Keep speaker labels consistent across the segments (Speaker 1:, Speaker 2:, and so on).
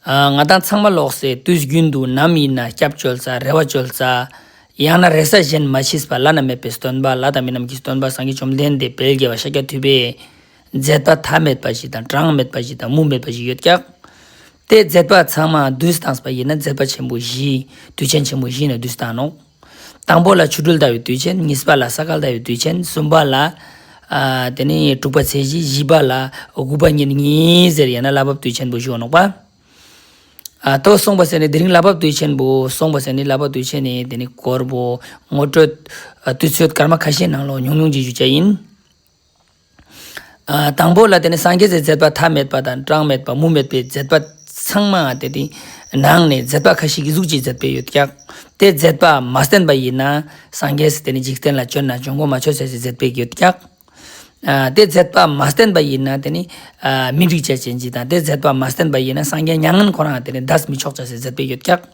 Speaker 1: ང་དང་ཚང་མ་ལོག་སའི་དུས་རྒྱུན་དུ་ནམ་ཡིན་ན་སྐྱབས་བཅོལ་རྩ་རེ་བ་བཅོལ་རྩ། ཡང་ན་རེ་ས་གཞན་མ་མཆིས་པ་བླ་ན་མེད་པའི་སྟོན་པ་ལ་དང་མི་རྣམས་ཀྱི་སྟོན་པ་སངས་རྒྱས་བཅོམ་ལྡན་འདས་དཔལ་རྒྱལ་བ་ཤཱཀྱ་ཐུབ་པས། མཛད་པ་མཐའ་མེད་པ་ཞིག་དང་གྲངས་མེད་པ་ཞིག་དང་མུ་མེད་པ་ཞིག་ཡོད་ཀྱང། དེ་མཛད་པ་ཚང་མ་དུས་བཟང་པ་ཡིན་ན་མཛད་པ་ཆེན་པོ་བཞི། དུས་ཆེན་ཆེན་པོ་བཞི་ནི་དུས་བཟང་ནོ། དང་པོ་ལ་ཆུ་སྦྲུལ་ལྟ་བུའི་དུས་ཆེན། གཉིས་པ་ལ་ས་ཁལ་ལྟ་བུའི་དུས་ཆེན། གསུམ་པ་ལ། དེ་ནས་དྲུག་པ་ཚེས་བཞི། བཞི་པ་ལ། དགུ་པ་ཉིན་གཉིས་ཟེར་ཡང་ན་གླ་བབ་དུས་ཆེན་པོ་བཞུགས་ནོག་པ། ཐོག་སོང་བ་ཟེར་ནས་དེ་རིང་གླ་བབ་དུས་ཆེན་པོ་སོང་བ་ཟེར་ནས་གླ་བབ་དུས་ཆེན་ནས་དེ་ནས་བསྐོར་བོ། ངོ་སྤྲོད། དུས་ཚོད་སྐར་མ་ཁ་ཤས་ནང་ལོག་ཉུང་ཉུང་བྱེད་རྒྱུ་བཅས་ཡིན། དང་པོ་ལ་དེ་ནི་སངས་རྒྱས་ཀྱི་མཛད་པ་མཐའ་མེད་པ་དང་གྲངས་མེད་པ་མུ་མེད་པའི་མཛད་པ་ཚང་མ་དེ་དེའི་ནང་ནས་མཛད་པ་ཁ་ཤས་ཀྱི་གཟུགས་ཀྱིས་མཛད་པས་ཡོད་ཀྱང་དེ་མཛད་པ་མ་བསྟན་པ་ཡིན་ན་སངས་རྒྱས་སུ་དེ་ནི་འཇིག་རྟེན་ལ་སྤྱོད་ན་འབྱུང་ཁུངས་མ་ཆོད་བྱ་ཞིང་མཛད་པས་ཡོད་ཀྱང། དེ་མཛད་པ་མ་བསྟན་པ་ཡིན་ན་དེ་ནི་མི་འགྲིག་བྱ་ཞིང་འཇིག་དང་དེ་མཛད་པ་མ་བསྟན་པ་ཡིན་ན་སངས་རྒྱས་མྱ་ངན་ཁོ་རང་དེ་ནི་བདག་མི་ཆོག་བྱ་ཞིང་མཛད་པས་ཡོད་ཀྱང།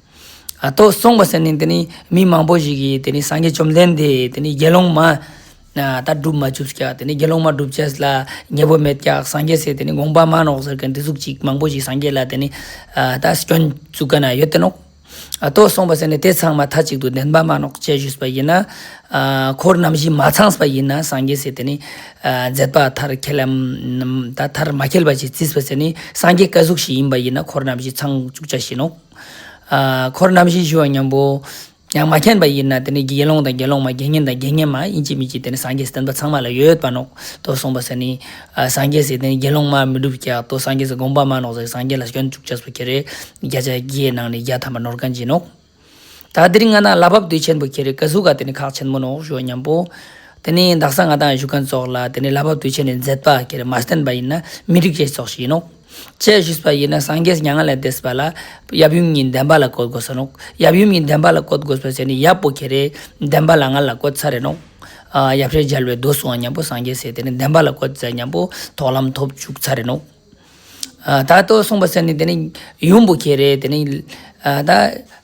Speaker 1: ཏོ། གསུངས་པ་ཟེར་ནས་དེ་ནི་མི་མང་པོ་ཞིག་གིས་དེ་ནི་སངས་རྒྱས་བཅོམ་ལྡན་འདས་དེ་ནི་དགེ་སློང་མ། ད་སྒྲུབ་མ་བཅུགས་ཀྱ་དེ་ནི་དགེ་སློང་མ་སྒྲུབ་བྱས་ལ་ཉེས་པོ་མེད་ཀྱ་སངས་རྒྱས་སྲས་དེ་ནི་དགོངས་པ་མ་ནོག་ཟེར་གྱི་འདི་གཟུགས་ཅིག་མང་པོ་ཞིག་སངས་རྒྱས་ལ་དེ་ནི་ད་སྐྱོན་བཙུགས་ཀྱ་ན་ཡོད་དེ་ནོ། ཏོ། གསུངས་པ་ཟེར་ནས་དེ་ཚང་མ་མཐའ་གཅིག་ཏུ་བདེན་པ་མ་ནོག་ཅེས་ཞུས་པ་ཡིན་ན། འཁོར་རྣམ་བཞི་མ་ཚང་བ་ཡིན་ན་སངས་རྒྱས་སྲས་དེ་ནི། མཛད་པ་མཐར་ཁྱེད་ལམ་མཐར་མ་ཁྱེར་བ་ཞིག་བརྩིས་པ་ཟེར་ནས་སངས་རྒྱས་བཀའ་གཟུགས་ཤིག་ཡིན་པ་ཡིན་ན་འཁོར་རྣམ་བཞི་ཚང་བཅུག་བྱ་བཞིན་ནོ། འཁོར་རྣམ་བཞིའི་ཞི་བ་མཉམ་པོ། ཡང་མ་མཁྱེན་པ་ཡིན་ན་དེ་ནི་དགེ་སློང་དང་དགེ་སློང་མ་དགེ་བསྙེན་དང་དགེ་བསྙེན་མ་དབྱིན་ཇི་མི་ཇི་དེ་ནི་སངས་རྒྱས་སུ་བསྟན་པ་ཚང་མ་ལ་ཡོད་པ་ནོག་ཏོ་གསུངས་པ་ཟེར་ནི། སངས་རྒྱས་སུ་དེ་ནི་དགེ་སློང་མ་མི་སྒྲུབ་ཀྱག་ཏོ་སངས་རྒྱས་སུ་དགོངས་པ་མ་ནོག་ཟེར་སངས་རྒྱས་ལ་སྐྱོན་བཅུག་བྱ་སོ་ཁྱེར་རེ། བརྒྱ་ཆ་བརྒྱའི་ནང་ནས་བརྒྱ་ཐམ་པ་ནོར་ག་འབྱིན་ནོག། ད་དེ་རིང་ང་ནག་ལ་བབ་དུས་ཆེན་པོ་ཁྱེར་རེ་ཀ་ཟུག་ག་དེ་ནི་ཁག་ཆེན་པོ་ནོག་ཞི་བ་མཉམ་པོ། དེ་ནི་བདག་སང་ང་དང་བཞུགས་མཁན་སོགས་ལ་དེ་ནི་ལ་བབ་དུས་ཆེན་ནས་མཛད་པ་ཁྱེར་རེ་མ་བསྟན་པ་ཡིན་ན་མི་འགྲིག་བྱེད་སོགས་ཞིག་ཡིན་ནོག། ཅེས་བཞུགས་པ་ཡིན་ན་སངས་རྒྱས་མྱ་ངན་ལས་འདས་པ་ལ་ཡབ་ཡུམ་གཉིས་ལྡན་པ་ལ་བཀོད་དགོས་སོ་ནོ། ཡབ་ཡུམ་གཉིས་ལྡན་པ་ལ་བཀོད་དགོས་པའི་ཆ་ནི་ཡབ་པོ་ཁྱེད་རེ་ལྡན་པ་ལ་ང་ལ་བཀོད་ཚར་རེ་ནོ། ཡབ་ཧྲལ་སྦྱར་བའི་མདོ་སོང་བ་མཉམ་པོ་སངས་རྒྱས་སྲས་དེ་ནི་ལྡན་པ་ལ་བཀོད་ཚར་མཉམ་པོ་དོག་ལམ་ཐོབ་བཅུག་ཚར་རེ་ནོ། ད་ལྟོ་གསུངས་པ་ཚད་ནི་དེ་ནི་ཡུམ་པོ་ཁྱེད་རེ་དེ་ནི་ད།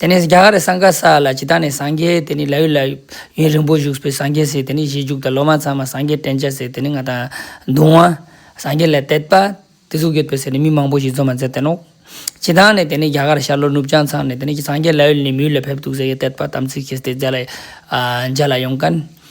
Speaker 1: དེ་ནས་རྒྱ་གར་སངས་དཀར་ས་ལ་ཇི་ལྟར་ནས་སངས་རྒྱས་དེ་ནི་ལ་ཡུལ་ལ་ཡུན་རིང་པོ་བཞུགས་པའི་སངས་རྒྱས་ཟེར་དེ་ནི་གཞིས་བཞུགས་དང་ལོ་མ་ཚང་མ་སངས་རྒྱས་བསྟན་བྱ་ཟེར་དེ་ནི་ང་དང་གདུང་བ། སངས་རྒྱས་ལས་དད་པ། དེ་གཟུགས་ཡོད་པས་ཟེར་ནས་མི་མང་པོ་ཞིག་འཛོམས་པ་མཛད་དེ་ནོ། ཇི་ལྟར་ནས་དེ་ནི་རྒྱ་གར་ཤར་ལྷོ་ནུབ་བྱང་ཚང་ནས་དེ་ནི་སངས་རྒྱས་ལ་ཡུལ་ནས་མི་ཡུལ་ལ་ཕེབས་འདུག་ཟེར་ཡས་དད་པ་དམ་ཚིག་བྱས་ཏེ་མཇལ་ལ་ཡོང་གནས།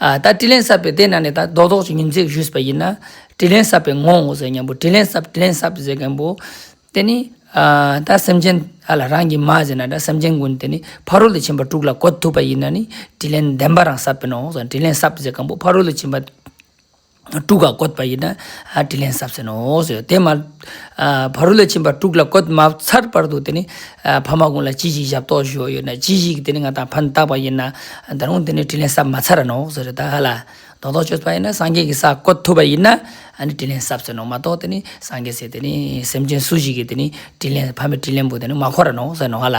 Speaker 1: ད་དྲིས་ལན་བསབ་པའི་དེ་ན་ནས་ད་རྡོག་རྡོག་ཅིག་ཉིན་མཚན་བཞུས་པ་ཡིན་ན་དྲིས་ལན་བསབ་པའི་ངོ་ཟེར་སྙམ་པོ་དྲིས་ལན་བསབ་དྲིས་ལན་བསབ་ཟེར་སྙམ་པོ། དེ་ནི་ད་སེམས་ཅན་ཨ་ལ་རང་གིས་མ་ཟེར་ན་ད་སེམས་ཅན་ཀུན་དེ་ནི་ཕ་རོལ་ཏུ་ཕྱིན་པ་དྲུག་ལ་གོ་ཐུབ་པ་ཡིན་ན་ནི་དྲིས་ལན་བདེན་པ་རང་བསབ་པའི་ནོ་ཟེར་དྲིས་ལན་བསབ་ཟེར་སྙམ་པོ་ཕ་རོལ་ཏུ་ཕྱིན་པ། དཀྲུགས་ཀ་བཀོད་པ་ཡིན་ན་དྲིས་ལན་ཟབ་ཟིན་ནོ། དེ་མ། བ་རུ་ལ་ཕྱིན་པ་དཀྲུགས་ལ་བཀོད་མ་ཚར་བར་དུ་དེ་ནི། ཕ་མ་ཀུན་ལ་ཅི་ཞིག་ཞབས་ཏོག་ཞུ་བ་ཡོད་ན་ཅི་ཞིག་དེ་ནི་ང་དང་ཕན་བཏགས་པ་ཡིན་ན། ད་རུང་དེ་ནི་དྲིས་ལན་ཟབ་མ་ཚར་ནོ། ཟེར་རེད་ད་ཧ་ལ། རྡོག་རྡོག་གཅོད་པ་ཡིན་ན་སངས་རྒྱས་ཀྱི་ས་བཀོད་ཐུབ་པ་ཡིན་ན་དྲིས་ལན་ཟབ་ཟིན་ནོ་མ་གཏོགས་དེ་ནི་སངས་རྒྱས་ཟེར་དེ་ནི་སེམས་ཅན་སུ་ཞིག་གིས་དེ་ནི་དྲིས་ལན་ཕ་མའི་དྲིས་ལན་པོ་དེ་ནི་མ་ཁོ་ར་ནོ་ཟེར་ནོ་ཧ་ལ།